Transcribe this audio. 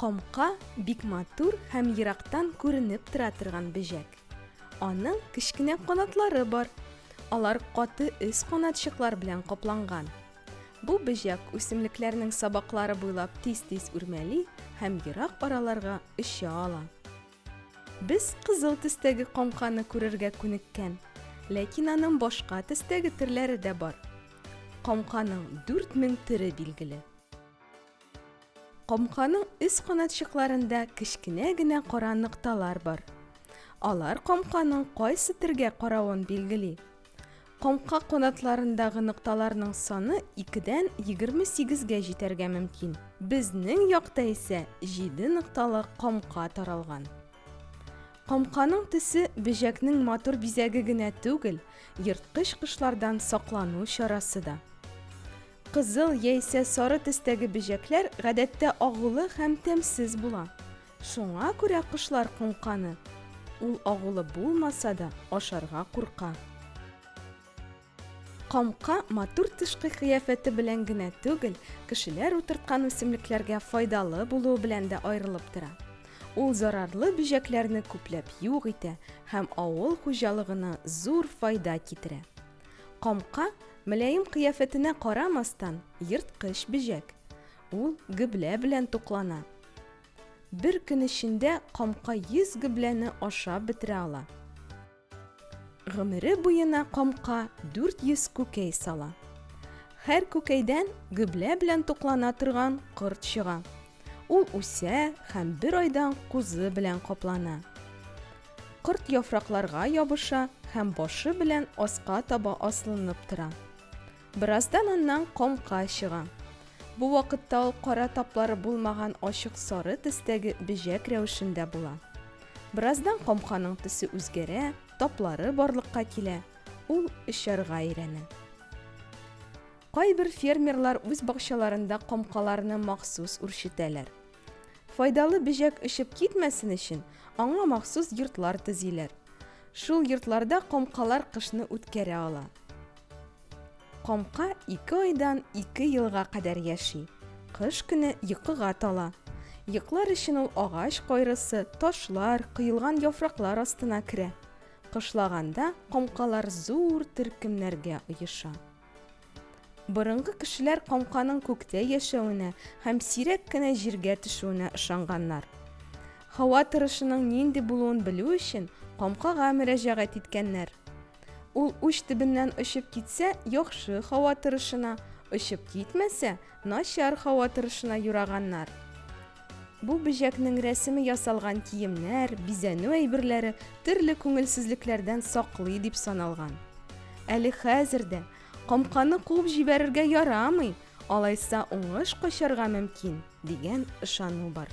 Камка бик матур һәм ерактан күренеп тора торган бөҗәк. Аның кечкенә канатлары бар. Алар каты өс канатчыклар белән капланган. Бу бөҗәк үсемлекләрнең сабаклары буйлап тиз-тиз үрмәли һәм ерак араларга оча ала. Без кызыл төстәге комканы күрергә күнеккән, ләкин аның башка төстәге төрләре дә бар. Комканың 4000 төре билгеле. Комканың өс канатчыкларында кечкенә генә кара нокталар бар. Алар комканың кайсы төргә каравын билгели. Коңка канатларындагы нокталарның саны 2-дән 28-гә җитәргә мөмкин. Безнең якта исә 7 нокталы камка таралган. Камканың төсе бөҗәкнең матур бизәге генә түгел, ерткыч кошлардан саклану чарасы да. Кызыл яисә сары төстәге бөҗәкләр гадәттә агулы һәм тәмсез була. Шуңа күрә кошлар коңканы. Ул агулы булмаса да, ашарга курка. Камка матур тышкы кыяфәте белән генә түгел, кешеләр утырткан үсемлекләргә файдалы булуы белән дә аерылып тора. Ул зарарлы бөҗәкләрне күпләп юк итә һәм авыл хуҗалыгына зур файда китерә. Камка, мөлаем кыяфәтенә карамастан, ерткыч бөҗәк. Ул гөблә белән туклана. Бер көн эчендә камка 100 гөбләне ашап бетерә ала. Гомере буена камка 400 күкәй сала. Һәр күкәйдән гөблә белән туклана торган корт чыга. Ул үсә һәм бер айдан кузы белән каплана. Корт яфракларга ябыша һәм башы белән аска таба аслынып тора. Бераздан аннан камка чыга. Бу вакытта ул кара таплары булмаган ачык сары төстәге бөҗәк рәвешендә була. Бераздан камканың төсе үзгәрә, таплары барлыкка килә, ул очарга өйрәнә. Кайбер фермерлар үз бакчаларында камкаларны махсус үрчетәләр. Файдалы бөҗәк очып китмәсен өчен, аңа махсус йортлар төзиләр. Шул йортларда камкалар кышны үткәрә ала. Камка ике айдан ике елга кадәр яши. Кыш көне йокыга тала. Йоклар өчен ул агач кайрысы, ташлар, коелган яфраклар астына керә. Кышлаганда камкалар зур төркемнәргә оеша. Борынгы кешеләр камканың күктә яшәвенә һәм сирәк кенә җиргә төшүенә ышанганнар. Һава торышының нинди булуын белү өчен камкага мөрәҗәгать иткәннәр. Ул уч төбеннән очып китсә, яхшы һава торышына, очып китмәсә, начар һава торышына юраганнар. Бу бөҗәкнең рәсеме ясалган киемнәр, бизәнү әйберләре төрле күңелсезлекләрдән саклый дип саналган. Әле хәзер дә, Камканы куып җибәрергә ярамый, алайса уңыш качарга мөмкин, дигән ышану бар.